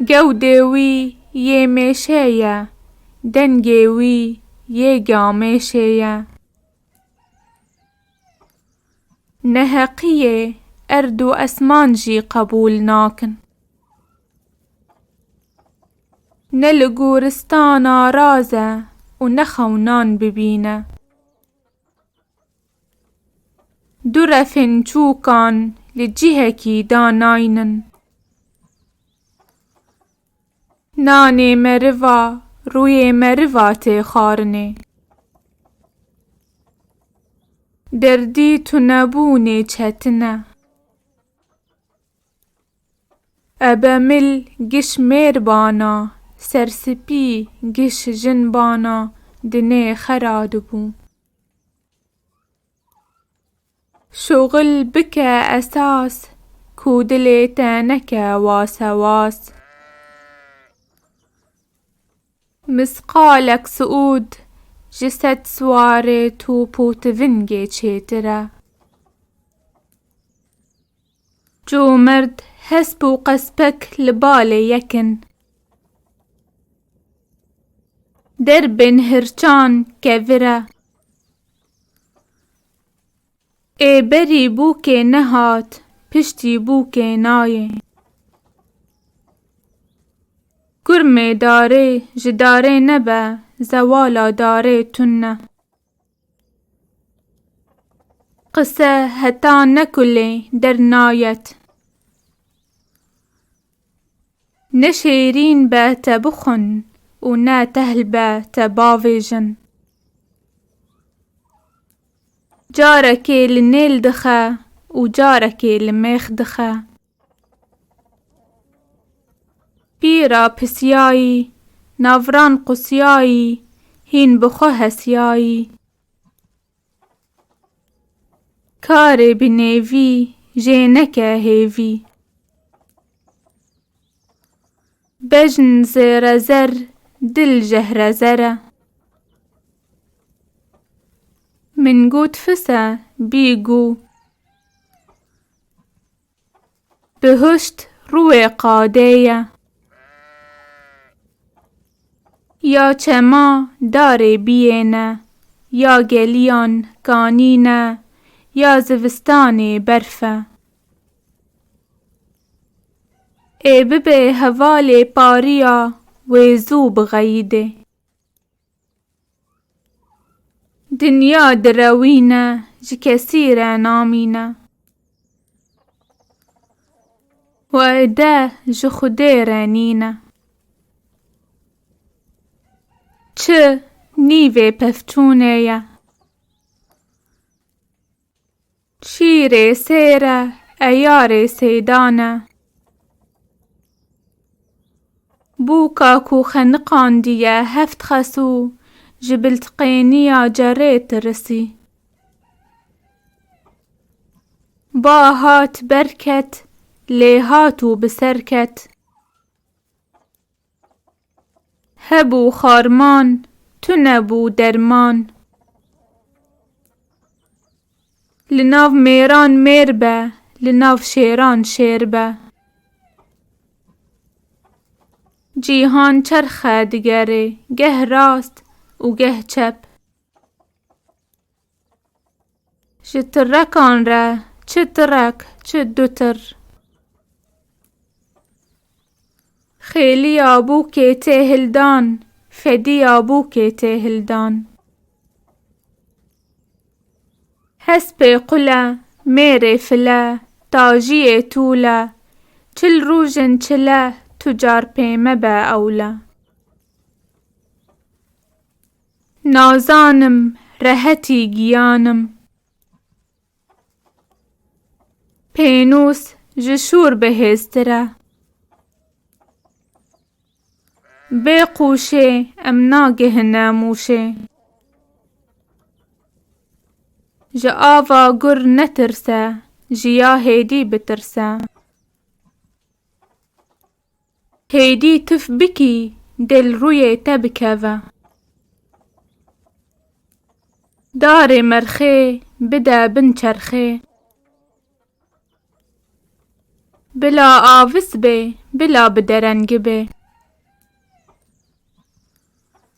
Gewdê wî yê mêşe ye. Dengê wî yê gamêşê ye. Neheqiyê erd û esman jî qebûl nakin. Ne li goristana raz e û ne xewnan bibîne. Du refên çûkan li cihekî da naynin. Nanê meriva rûyê meriva tê xarinê. Derdî tunebûnê çetin e. Ebe mil giş mêr bana, serspî giş jin bana di nê xera dibû. Şoxil bike esas, ku dilê te neke wase was. Misqalek siûd ji sed siwarê top û tivingê çêtir e. Ço merd hesp û qespek li balê yek in. Der bên hirçan ke vire. Ê berî bûkê nehat, piştî bûkê nayê. Kurmê darê ji darê nebe, zewala darê tune. Qise heta ne kulê der nayet. Ne şêrîn be te bixwin û ne tehl be te bavêjin. Carekê li nêl dixe û carekê li mêx dixe. Pîra pisiyayî, navran qusiyayî, hîn bi xwe hesiyayî. Karê bi nêvî jê neke hêvî. Bejn zêre zer, dil jehre zer e. Min got fis e, bî gû. Bihuşt rûê qadê ye. Ya çema darê biyêne, ya geliyan kanîne, ya zivistanê berf e. Ê bibê hevalê pariya wê zû bixeyidê. Dinya direwîne, ji kesî re namîne. Wade ji Xwedê re nîne. Çi nîvê pevçûnê ye. Şîrê sêr e, eyarê sêdan e. Bûka ku xeniqandiye heft xesû, ji biltiqêniya cerê tirisî. Ba hat ber ket, lê hat û bi ser ket. Hebû xarman, tune bû derman. Li nav mêran mêr be, li nav şêran şêr be. Cîhan çerxe digerê, geh rast û geh çep. Ji tirekan re çi tirek çi du tir. Xêliya bûkê tê hildan, fediya bûkê tê hildan. Hespê qule, mêrê file, tajiyê tûle, çil rûjin çile tu car pê mebe ewle. Nazanim rehetî giyan im. Pênûs ji şûr bihêztir e. Bê qûşê em nagihine mûşê. Ji ava gur netirse ji ya hêdî bitirse. Hêdî tif bikî dil rûyê te bikeve. Darê merxê bide bin çerxê. Bila avis bê bila bi derengibê.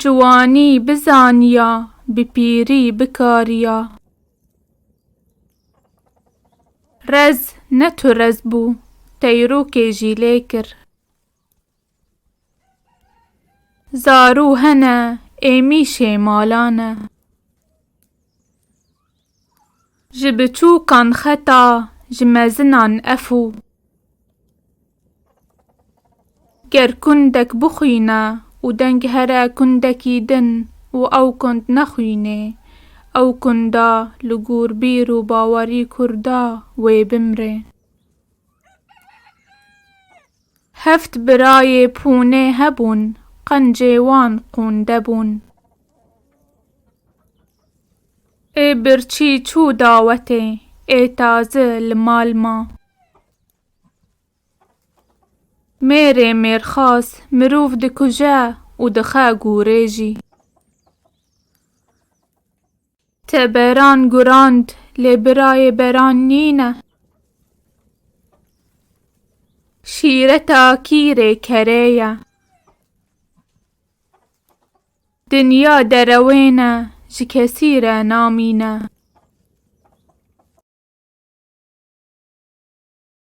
Ciwanî bizaniya, bi pîrî bikariya. Rez ne tu rez bû, teyrokê jî lê kir. Zarû hene, êmîşê malan e. Ji biçûkan xeta ji mezinan efû. Ger kundek bixwîne û deng here kundekî din û ew kund nexwînê, ew kunda li gûr bîr û bawerî kurda wê bimrê. Heft birayê pûnê hebûn, qencê wan qûnde bûn. Ê birçî çû dawetê, ê tazi li mal ma. Mêrê mêrxas mirov dikuje û dixe gûrê jî. Te beran gurand lê birayê beran nîne. Şîreta kîrê kerê ye. Dinya derewên e, ji kesî re namîne.